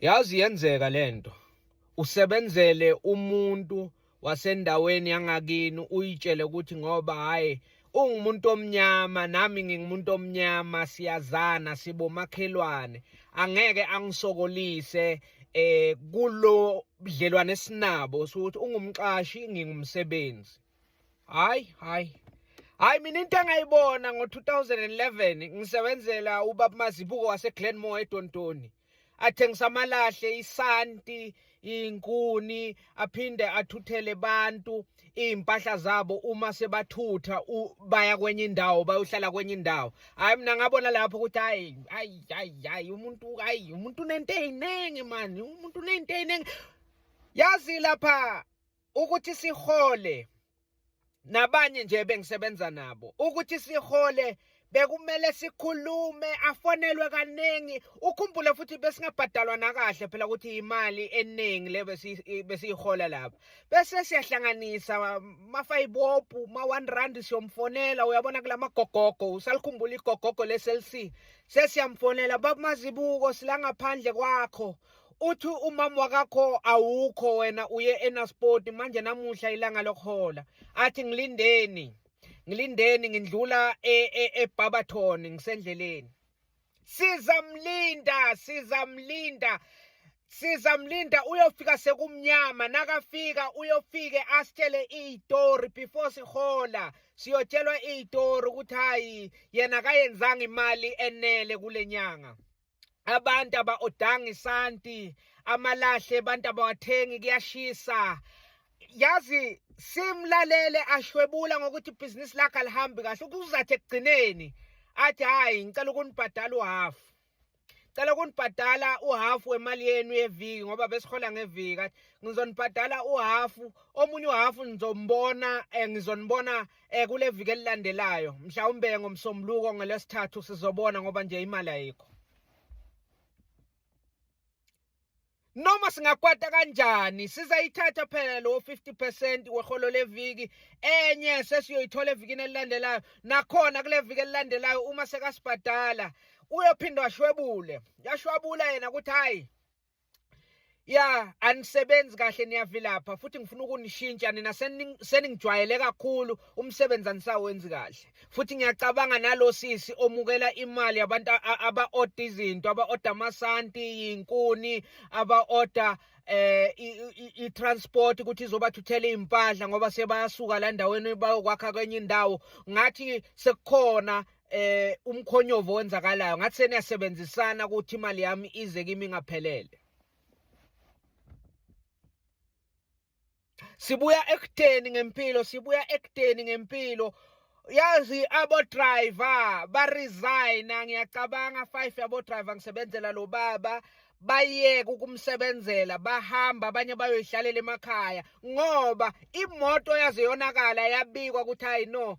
Yazi yenzeka lento. Usebenzele umuntu wasendaweni yangakini uyitshele ukuthi ngoba hayi ungumuntu omnyama nami ngingumuntu omnyama siyazana sibomakhelwane angeke angisokolise eh kulo budlelwane sinabo sokuthi ungumqashi ngingumsebenzi Hayi, hayi. Hayi mina into engayibona ngo-2011 ngisebenzela ubaba Mazibuko waseGlenmore eDontoni. Athengisa amalahle, isanti, inkuni, aphinde athuthele abantu izimpahla zabo uma sebathutha baya kwenye indawo bayohlala kwenye indawo. Hayi mina ngabona lapho ukuthi hayi hayi hayi umuntu hayi umuntu unento eziningi manje, umuntu unento eziningi. Yazi lapha ukuthi sihole nabanye nje bengisebenza nabo ukuthi sihole bekumele sikhulume afonelwe kaningi ukhumbule futhi besingabhadalwa nakahle phela ukuthi imali eningi le besiyihola lapha bese siyahlanganisa mafayibopu ma-one rand siyomfonela uyabona kula magogogo usalikhumbula igogogo le-cell c sesiyamfonela babumazibuko silangaphandle kwakho uthi umama wakakho awukho wena uye enasport manje namuhla ilanga lokuhola athi ngilindeni ngilindeni ngindlula eBarberton e, e ngisendleleni sizamlinda sizamlinda sizamlinda uyofika sekumnyama nakafika uyofike asitshele iyitori before sihola siyotshelwa iyitori ukuthi hayi yena kayenzanga imali enele kule nyanga abantu aba-odanga isanti amalahle abantu abawathengi kuyashisa yazi simlalele ashwebula ngokuthi ibhizinisi lakhe alihambi kahle ukuzathi ekugcineni athi hhayi ngicela ukunibhadala uhafu cela ukunibhadala uhafu wemali yenu yeviki ngoba besihola ngeviki athi ngizonibhadala uhafu omunye uhafu nizombona um ngizonibona um Eh kule viki elilandelayo mhlawumbe ngomsombuluko ngelesithathu sizobona ngoba nje imali ayikho. noma singakwata kanjani sizayithatha phela lo 50% weholo leviki enye sesiyoyithola evikini elilandelayo nakhona kule viki elilandelayo uma sekasibhadala uyophinde washwebule yashwabula yena ukuthi hayi ya anisebenzi kahle niyavilapha futhi ngifuna ukunishintsha nina seningijwayele kakhulu umsebenzi anisawenzi kahle futhi ngiyacabanga nalo sisi omukela imali yabantu aba-oda izinto aba-oda amasanti yinkuni aba-oda eh i-transport ukuthi izobathuthela izimpahla ngoba sebayasuka la ndaweni bayokwakha kwenye indawo ngathi sekukhona eh umkhonyovo wenzakalayo ngathi seniyasebenzisana ukuthi imali yami ize kimi ngaphelele sibuya ekutheni ngempilo sibuya ekutheni ngempilo yazi abo driver ba resign ngiyacabanga 5 yabo driver ngisebenzela lo baba bayeke ukumsebenzela bahamba abanye bayoyihlalela emakhaya ngoba imoto yaze yonakala yabikwa ukuthi hayi no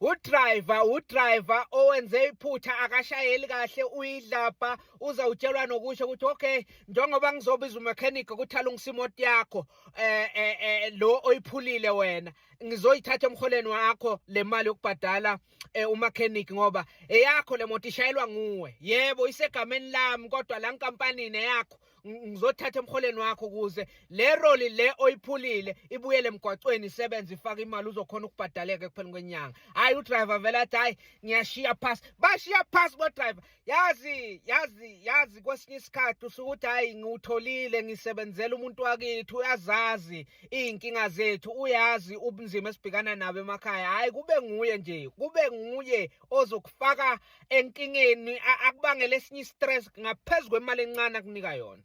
udriver udriver owenze iphutha akashayeli kahle uyidlabha uza utshelwa nokusho ukuthi okay njengoba ngizobiza umechanic ukuthi alungise imoto yakho eh, eh, eh lo oyiphulile wena ngizoyithatha emholeni wakho le mali yokubhadala eh, umechanic ngoba eyakho le moto ishayelwa nguwe yebo isegameni lami kodwa la nkampanini eyakho ngizothatha emholeni wakho ukuze le roli le oyiphulile ibuyele emgwacweni isebenze ifake imali uzokhona ukubhadaleka ekupheleni kwenyanga hhayi udriver vele athi hhayi ngiyashiya phasi bashiya phasi bodriver yazi yazi yazi kwesinye isikhathi usuke uthi hhayi ngiwutholile ngisebenzela umuntu wakithi uyazazi iy'nkinga zethu uyazi ubunzima esibhekana nabo emakhaya hhayi kube nguye nje kube nguye ozokufaka enkingeni akubangela esinye i-stress ngaphezu kwemali encane akunika yona